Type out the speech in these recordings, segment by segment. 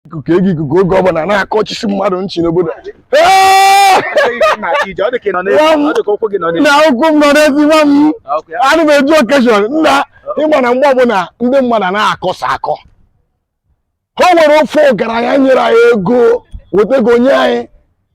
ikuku ego ikuku oge ọbụla na-akọchisi mmadụ nchi n'obodo na ụkwụ m nọ n'ezi nwa m ana m eje okeshọn nna ịma na mgbe ọbụla ndị mmadụ na-akọsa akọ o nwere ofu ọgaranya nyere anyị ego weta ego nye anyị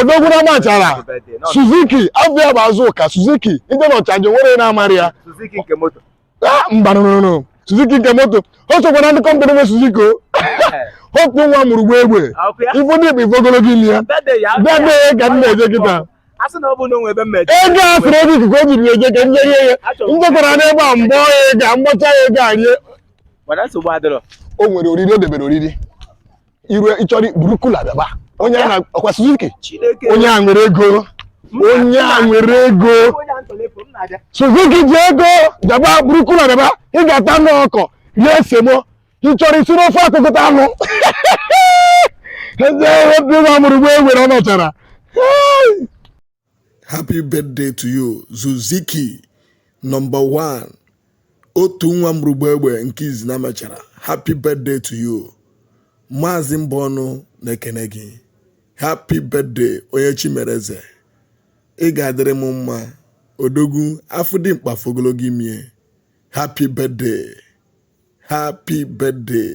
odogwu n'Amachara suzuki abịa bụ azụ ụka suzuki ndị n'Ọchanja nwere na-amara ya ah, mba nụnụnụ suzuki nke moto o sokwa na ndị kọmpani nwe suzuki otu nwa mụrụ gba egbe ifụ ndị bụ ife ogologo imi ya bịadee ka m na-eje kịta ego a sịrị ego ikuku o jiri eje ka m jerie ya m jekwara n'ebe a mbọ ya ego a mgbacha ya ego a rie o nwere oriri o debere oriri iru ị chọrọ buru kula bịaba onye a na-akwa Suzuki Chineke onye a nwere ego onye a nwere ego onye a ntọrọ efu m na-abịa Suzuki ji ego bịaba buru kula bịaba ị ga-ata anụ ọkọ rie semo ị chọrọ isi n'ofe akụkọta anụ eze ebe nwa mụrụ gba egbe ọ nọchara Hey! happy birthday to you suzuki nọmba 1 otu nwa mụrụ gba egbe nke izi n'Amachara happy birthday to you maazị Mbọnụ na-ekene gị happy birthday onye chi mere eze ị ga-adịrị m mma odogwu afọ dị mkpa ife ogologo imi e happy birthday happy birthday